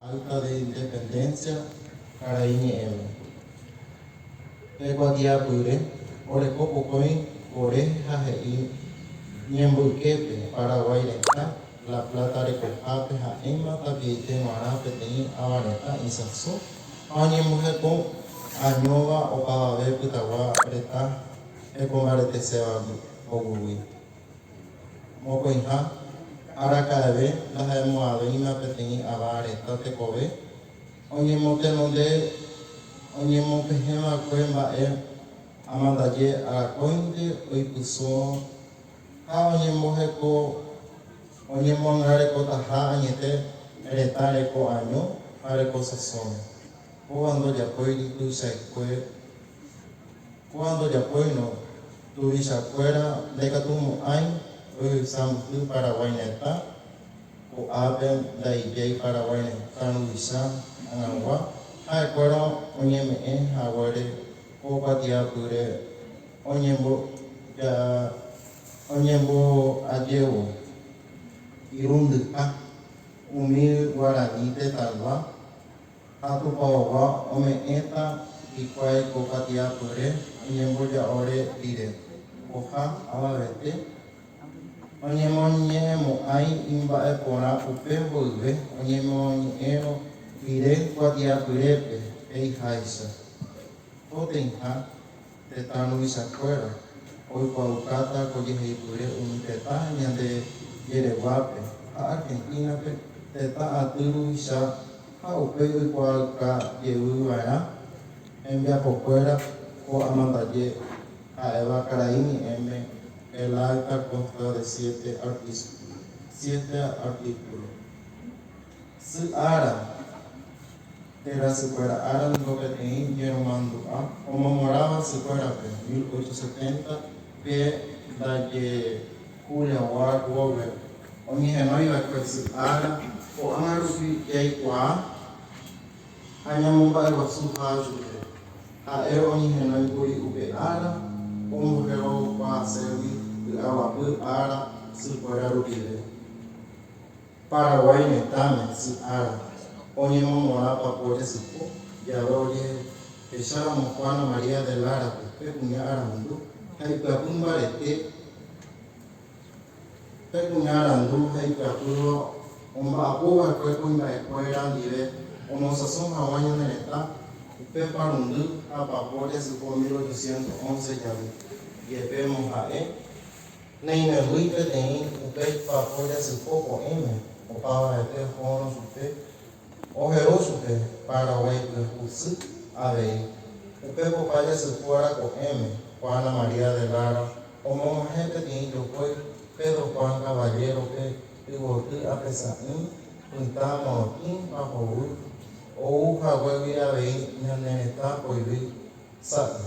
Acta de Independencia karai ñe'ẽme. Pe kuatiapýre oreko pokõi ore ha he'i ñembyképe Paraguái retã La Plata rekohápe ha'éma tapiaite g̃uarã peteĩ ava retã isãso ha oñemboheko añóva opavave pytagua retã hekombareteséva oguygui. Mokõiha, araka'eve ndaha'emo'ãvéima peteĩ ava reta tekove oñemotenonde oñemopehẽva'ekue mba'e amandaje arakóinte oipysũrõ ha oñemboheko oñemoangarekotaha añete retã reko año ha reko sasõme. Kóva ndojapóiri tuichaikue. Ko'ã ndojapóirõ, tuvichakuéra ndaikatumo'ãi ojevysa mbyhy Paraguái retã, ko'ápe ndaijái Paraguái retã ruvicha hag̃agua, ha'ekuéra oñeme'ẽ haguére ko kuatiapýre oñemboajévo irundyha umi guarani tetãygua. Ha tupaogua ome'ẽta hikuái ko patiapyre oñemboja'ore rire, oha avavete oñemoñe'ẽmo'ãi imba'eporã upe mboyve oñemoñe'ẽrõ rire kuatiapyrépe, he'iháicha, potĩha Tetã ruvichakuéra oikuaaukáta ko jeheipyre umi tetã ñande jereguápe ha Argentina-pe tetã aty ruvicha ha upéi oikuaauka jevy va'erã hembiapokuéra ko amandaje ha'éva karai ñe'ẽme El Alta Consta de Siete Artisculos, Siete Artículos. Sy ára, térã sykuéra ára niko peteĩ ñeromandu'a omomorãva sykuérape, mil ocho setenta, pe ndaje Júliagua Rwove oñehenói va'ekue sy ára, ko'ág̃a rupi jaikuaa ha ñamomba'eguasu háa chupe. Ha'e oñehenói kuri upe ára omboherokuaaségui py'aguapy ára sykuéra rupive. Paraguái retãme sy ára oñemongorã pakuére sypo jave ojehecháramo Juana María de Lara-pe pe kuña arandu ha ipyapy mbarete Pe kuña arandu ha ipyapýva omba'apo va'ekue kuimba'ekuéra ndive omosãso haguã ñane retã upe parundy ha pakuére sypo 1811 jave jepémo ha'e Neimembýi peteĩ upe ipy'apo jasypo ko'ẽme opavave'ẽte ohórõ chupe ohe'o chupe Paraguái pyahu sy avei. Upe popa jasypo ára ko'ẽme Juana María de Lara omog̃uahẽ peteĩ jokói Pedro Juan Caballero-pe yvoty ape sa'ỹ pytã morotĩ ha hovy ou haguégui avei ñane retã poyvi sa'y.